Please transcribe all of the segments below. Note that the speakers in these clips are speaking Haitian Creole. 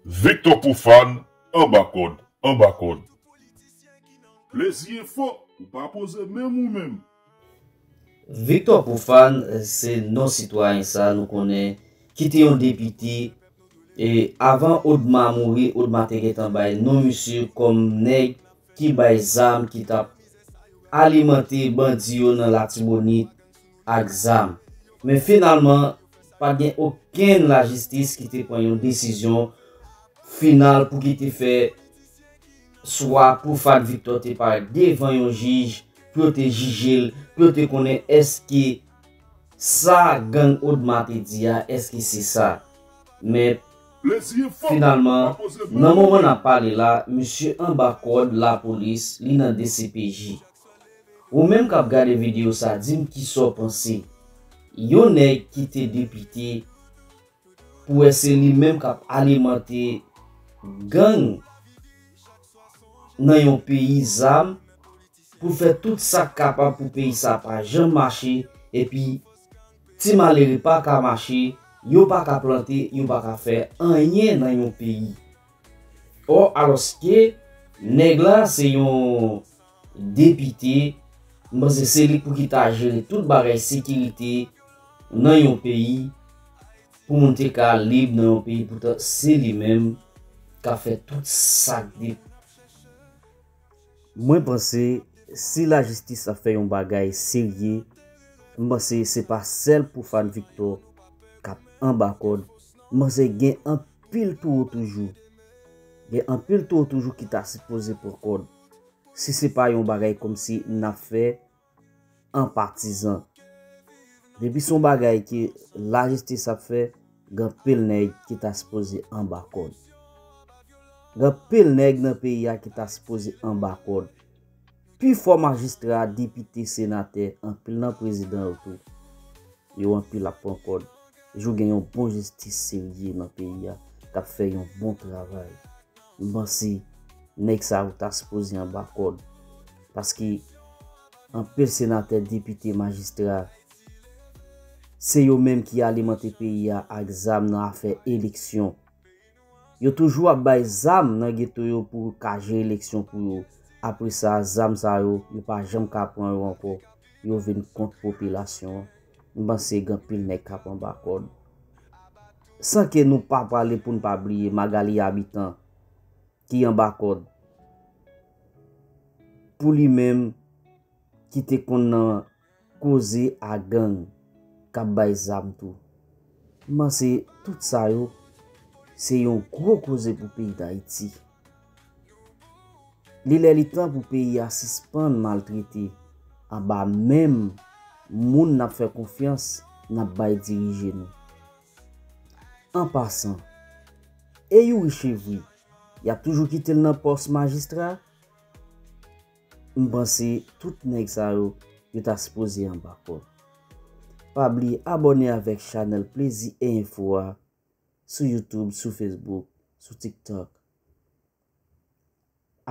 Victor Profane anba kòd, anba kòd. Plezi e fo, ou pa poze menm ou menm. Victor Profane se non sitwayen sa nou konnen ki te yon depite e avan Odma mouri Odma te gentan bay non misye kòm nèg ki bay zam ki tap alimante bandi yo nan Latibonit ak zam. Men finalman, pa t gen okenn lajistis ki te pran yon desizyon final pou ki te fè swa pou Fat Victor te parèt devan yon jij pou yo te jije l, pou yo te konnen èske sa gang Odma te di a, èske se sa. Men, finalman, nan moman n ap pale la, misye anba kòd lapolis, li nan dcpj. Ou menm kap gade video sa dim kisaw panse yon nèg kite depite pou wè se li menm kap alimante gang nan yon peyi zam poul fè tout sak kapab pou peyi sa pa janm mache epi ti malere paka mache yo paka plante yo paka fè anyen nan yon peyi. Oh aloske neg la se yon depite m panse se li pouki ta jere tout bagay sekirite nan yon peyi pou moun te ka lib nan yon peyi poutan se li menm kap fè tout sak de Mwen panse si lajistis ap fè yon bagay serye m panse se pa sèl pou Fat Victor kap anba kòd m panse gen anpil anpil towo toujou. Gen anpil towo toujou ki ta sipoze pran kòd. Si se pa yon bagay kòmsi n ap fè an patizan. Depi se yon bagay ke lajistis ap fè, gen anpil nèg ki ta sipoze anba kòd. Gen anpil nèg nan peyi a ki ta sipoze anba kòd. Pi fò majistra, depite, senatè, anpil nan prezidan yo tou. Yo anpil ap pran kòd. Jou gen yon bon jistis serye nan peyi a k ap fè yon bon travay, m panse nèg sa yo ta sipoze anba kòd. Paske anpil senatè, depite, majistra, se yo menm ki alimante peyi a ak zam nan afè eleksyon. Yo toujou ap bay zam nan geto yo pou ka jere leksyon pou yo. Apre sa, zam sa yo, yo pa janm ka pran yo ankò. Yo vin kont popilasyon an. M panse gen anpil nèg k ap anba kòd. San ke nou pa pale pou n pa bliye Magalie Habitant ki anba kòd pou li menm ki te konn nan. Koze a gang kap bay zam tou. M panse tout sa yo se yon gwo koze pou peyi Dayiti. Li lè li tan pou peyi a sispann maltrete anba menm moun nap fè konfyans nap bay dirije nou. An pasan, e Youri Chevri yap toujou kite l nan pòs majistra? M panse tout nèg sa yo yo ta sipoze anba kòd. Pa bliye abòne avèk chanèl plezi e enfo a sou youtube sou facebook sou tiktok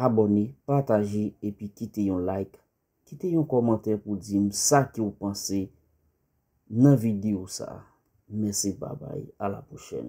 abòne pataje epi kite yon like kite yon kòmantè pou dim sa ke w panse nan video sa mèsi babay a la pwochèn.